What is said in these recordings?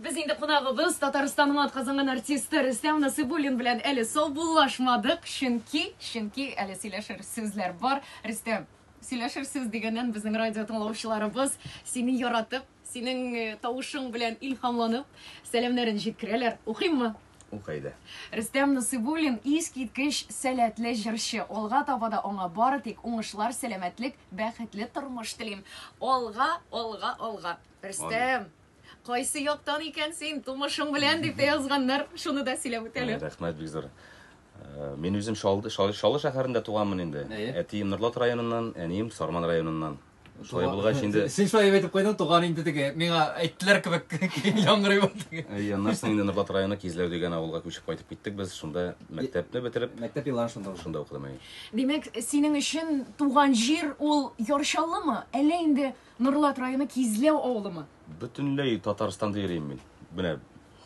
Без инде кунагыбыз, Татарстанның атказанган артисты Рөстәм Насыйбуллин белән әле саубуллашмадык, чөнки, чөнки әле сөйләшер сүзләр бар. Рөстәм, сөйләшер сүз дигәннән безнең радио тыңлаучыларыбыз сине яратып, синең э, тавышың белән илһамланып, сәламнәрен җиткерәләр. Укыйммы? Укый да. Рөстәм Насыйбуллин искиткеч сәләтле җырчы. Алга таба да аңа бары тик уңышлар, сәламәтлек, бәхетле тормыш телим. Алга, алга, алга. Рөстәм, Кайсы яктан икән син, тумышың белән, дип тә язганнар. Шуны да сөйләп үтәле. Рәхмәт бик зур. Э, мин үзем Шалды, Шалы, Шалы шәһәрендә туганмын инде. Әтием Норлат районыннан, әнием Сарман районыннан. Шулай булгач инде. Син шулай дип әйтеп куйдың, туган инде теге. Миңа әйттеләр кебек яңгырый бу теге. Әйе, аннан соң инде Норлат районы Кизләү дигән авылга күчеп кайтып киттек без. Шунда мәктәпне бетереп, мәктәп елларын шунда узды. Шунда укыдым әйе. Димәк, синең өчен туган җир ул Ярчаллымы? Әллә инде Норлат районы Кизләү авылымы? Бөтенләй Татарстанда йөрим мин. Менә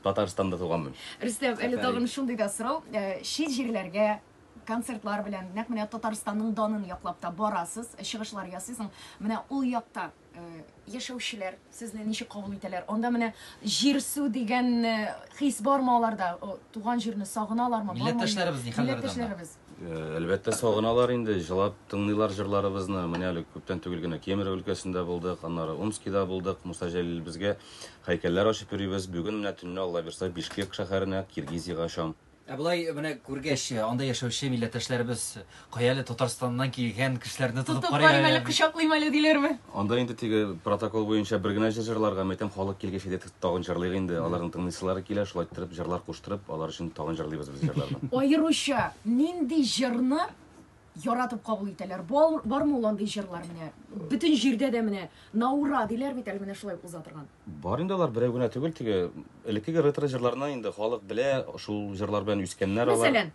Татарстанда туганмын. Рөстәм, әле тагын шундый да сорау. Э, чит җирләргә концертлар белән нәкъ менә Татарстанның данын яклап та барасыз, чыгышлар ясыйсың. Менә ул якта э, яшәүчеләр сезне ничек кабул итәләр? Анда менә җир су дигән э, хис бармы аларда? Туган җирне сагыналармы? Милләттәшләребез ни хәлләрдә? Милләттәшләребез. Әлбәттә, сагыналар инде, җылап тыңлыйлар җырларыбызны. Менә әле күптән түгел генә Кемерово өлкәсендә булдык, аннары Омскида булдык. Муса Җәлилебезгә һәйкәлләр ачып йөрибез. Бүген менә төнне Алла бирса, Бишкек шәһәренә, Киргизиягә очам. Ә болай менә күргәч, анда яшәүче милләттәшләребез кая әле Татарстаннан килгән кешеләрне тотып карыйм әле. Тотып карыйм әле, кочаклыйм әле диләрме? Анда инде теге протокол буенча бер генә җыр җырларга, мәйтәм, халык килгәч иде Тагын җырлыйк инде, аларның тыңлыйсылары килә, шулай иттереп җырлар куштырып, алар өчен тагын җырлыйбыз без җырларны. Аеруча нинди җырны яратып кабул итәләр? Бармы ул андый җырлар менә, бөтен җирдә дә менә на ура диләр бит әле менә шулай уза торган. Бар инде алар, берәү генә түгел, теге элеккеге ретро җырларны инде халык белә, шул җырлар белән үскәннәр алар. Мәсәлән?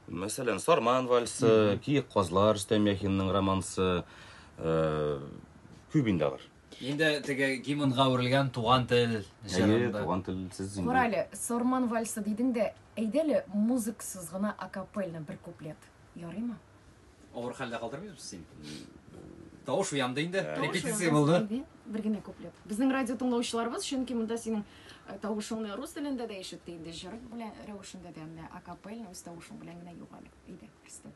Мәсәлән, Сарман вальсы, Киек казлар, Рөстәм Яхинның романсы, күп инде алар. Инде теге гимнга үрелгән туган тел җырында. Әйе, туган тел сез инде. Курале, Сорман вальсы дидең дә, әйдәле музыксыз гына акапельно бер куплет. Ярыймы? Авыр хәлдә калдырмыйбыз син. Тавыш уянды инде, репетиция булды. Бер генә куплет. Безнең радио тыңлаучыларыбыз, чөнки монда синең э, тавышыңны рус телендә дә ишетте инде, җыр белән рәвешендә дә, менә акапельно үз тавышың белән генә югары. Әйдә, Кристин.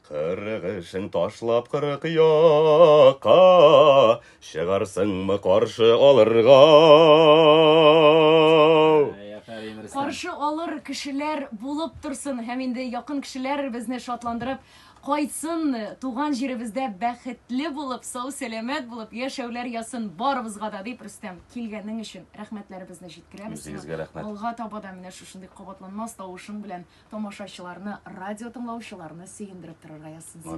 Кырык эшең ташлап кырык якка, Чыгарсыңмы каршы алырга? Каршы алыр кешеләр булып торсын һәм инде якын кешеләр безне шатландырып кайтсын, туган җиребездә бәхетле булып, сау-сәламәт булып яшәүләр ясын барыбызга да, дип Рөстәм, килгәнең өчен рәхмәтләребезне җиткерәбез. Үзегезгә рәхмәт. Алга таба да менә Шундый кабатланмас тавышың белән тамашачыларны, радиотыңлаучыларны сөендереп торырга язсын сиңа.